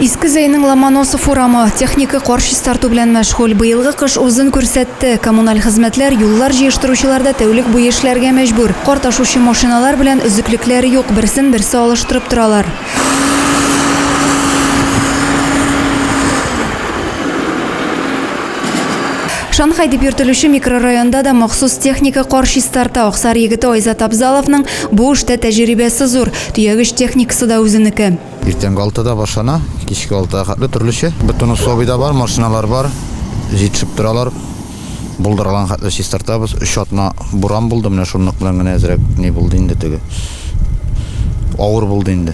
Иске Зәйнең Ломоносов урамы техника кар чистарту белән мәшгуль. Быелгы кыш үзен күрсәтте. Коммуналь хезмәтләр, юллар җыештыручылар да тәүлек буе эшләргә мәҗбүр. Кар ташучы машиналар белән өзеклекләре юк, берсен берсе алыштырып торалар. Шанхай дип йөртелүче микрорайонда да махсус техника кар чистарта. Аксар егете Айзат Абзаловның Бу эштә тәҗрибәсе зур, төягеч техникасы да үзенеке. Иртәнге алтыда башлана, кичке алтыга хәтле төрлечә. Бетонусобий да бар, машиналар бар, җитешеп торалар. Булдырган хәтле чистартабыз. Өч атна буран булды, менә шунлык белән генә әзрәк ни булды инде теге. Авыр булды инде.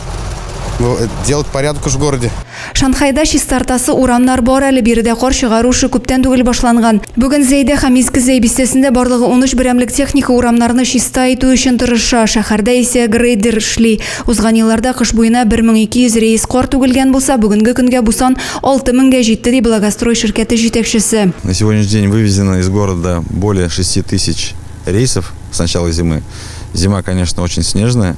Ну, э, делать порядок уж в городе. Шанхайда чистартасы урамнар бар әле биредә кар чыгару эше күптән түгел башланган. Бүген Зәйдә һәм Иске Зәй бистәсендә барлыгы 13 берәмлек техника урамнарны чиста итү өчен тырыша. Шәһәрдә исә грейдер эшли. Узган елларда кыш буена 1200 рейс кар түгелгән булса, бүгенге көнгә бу сан 6000-гә җитте, ди Благострой ширкәте җитәкчесе. На сегодняшний день вывезено из города более 6 тысяч рейсов с начала зимы. Зима, конечно, очень снежная.